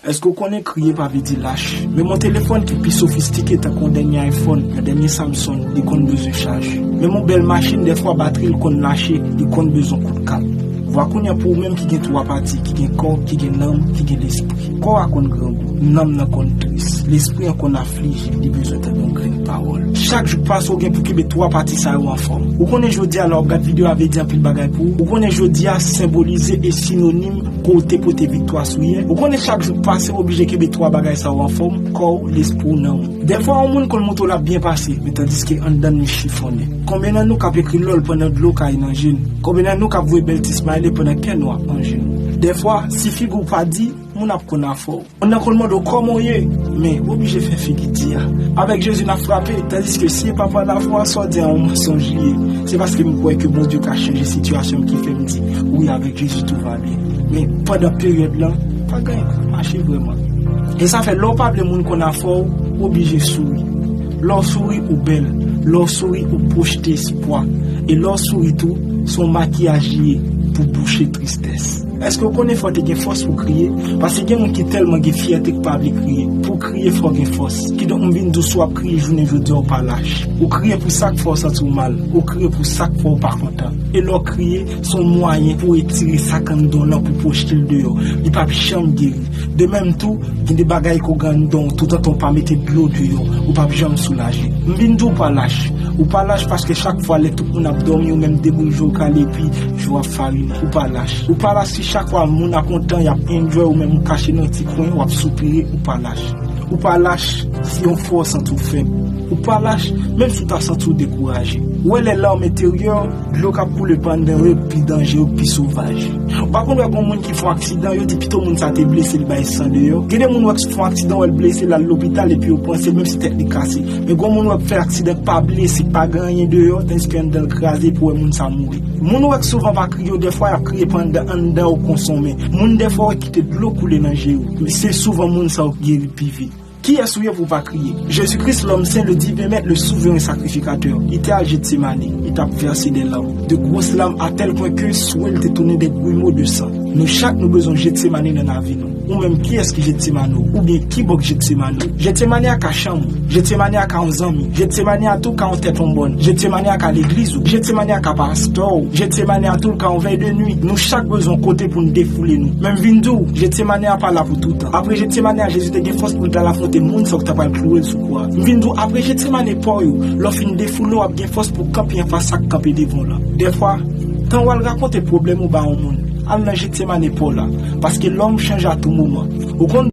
Èske w konnen kriye pa vle di lach? Men yon telefòn ki pi sofistike tankou yon dènye iPhone, yon dènye Samsung, li konn bezwen chaj. Menm yon bèl machin dèfwa batri l konn lache, li konn bezwen kout kat. Vwa kounya pou ou menm ki gen 3 pati, ki gen kò, ki gen nanm, ki gen lespri. Kò a konn grangou, nanm nan konn tris, lespri an konn aflije, li bezwen tande yon grenn pawòl. Chak jou k pase ou gen pou kenbe 3 pati sa yo anfòm. Ou konnen jodi a lè w ap gad videyo a vle di anpil bagay pou ou. Ou konnen jodi a senbolize e sinonim. Pote pote viktwa sou ye. Ou konnen chak jou k pase w oblije kenbe 3 bagay sa yo anfòm, kò w, lespri w, nanm ou. Dèfwa yon moun konn montre w l ap byen pase, men tandiske anndan l li chifonnen. Konbyen nan nou k ap ekri lòl pandan dlo kaye nan je n? Konbyen nan nou k ap voye bèl ti smile pandan kè nou ap manje nou? Dèfwa, si figi w pa di, moun ap konn afè w. Moun nan konn mande w kòman w ye, men ou oblije fè figi di a. Avèk Jezi n ap frape, tandiske si e pa pwa lafwa, sa w di a yon mansonj li ye. Se paske m kwè ke Bondye ka chanje sitiyasyon m ki fè m di, wi avèk Jezi tou va byen. Men, pandan peryòd lan, pa gen anyen k ap mache vrèman. E sa fè lè w pa vle moun konn afè w, ou oblije souri. Lè w souri, ou bèl. Lè w souri, ou pwochte espwa. E lè w souri tou, se yon makiyaj li ye pou bouche tristès. Eske ou konnen fò te gen fòs pou kriye? Pase gen moun ki tèlman gen fyète ki pa vle kriye. Pou w kriye fò w gen fòs. Kidonk m vin di w si w ap kriye jounen jodi a ou pa lach. Ou kriye pou sa k fè w santi w mal. Ou kriye pou sa k fè w pa kontan. E lè w kriye, se yon mwayen pou w etire sa k anndan w lan pou w pwojte l deyò. Li p ap janm geri. De menm tou, gen de bagay ke w gen anndan w toutotan w pa mete dlo deyò, ou p ap janm soulaje. M vin di w pa lach. Ou pa lach paske chak fwa lè tout moun ap dòmi ou menm deboujoure w kale epi, Jou ap farin ou pa lach Ou pa la si chak wa moun ap kontan yap enjoy ou menm ou kache nan ti kwen wap soupire ou pa lach Ou pa lach si yon fwa w santi w fèb Ou pa lach menm si w ta santi w dekouraje Ou wè lè larme teryè w dlo kap koule pandan yo pi danje yo pi sovaj Ou pa konn wè gon moun ki fon aksidan yo di pito moun sa te blese li bay san deyò Gen de moun wè k fon aksidan wè l blese lal lopital epi yo panse menm si tèt li kase Men gon moun wè k fè aksidan k pa blese k pa gen anyen deyò tandiske anndan l kraze epi w wè moun sa mouri. Moun ou wè k souvan pa kriye yo dèfwa yap kriye pandan anndan yo konsonmen moun dèfwa ou wè kite dlo koule nan je yo men se souvan moun sa yo k geri pi vit kiyès ou ye pou w pa kriye Jezi Kris lòm sen le diven mèt le souveren sakrifikatè li te al Jetsemane li tap vèse dè lam de gwos lam atèl pwen ke swe l te tounen dè gwimo de san nou chak nou bezwen Jetsemane nan lavi nou. Ou menm kiyès ki Jetsemane ou? Oubyen ki bòk Jetsemane ou? Jetsemane a ka chanm ou. Jetsemane a ka yon zanmi. Jetsemane a tou ka yon tèt onbòn. Jetsemane a ka legliz ou. Jetsemane a ka pastè ou. Jetsemane a tou l ka yon vèy de nuit. Nou chak bezwen yon kote pou n defoule nou. Men m vin di w, Jetsemane a pa la pou toutan. Apre Jetsemane a Jezi te gen fòs pou l t al afwonte moun sa yo k t apral klouwe l sou kwa. M vin di w, apre Jetsemane pa w yo, lè w fin defoule w ap gen fòs pou w kanpe anfas sa k kanpe devan w lan. Dèfwa, tan w al rakonte pwoblèm ou ba yon moun, Al nan Jetsemane paw la. Paske lòm chanje a tou moman. Ou konn.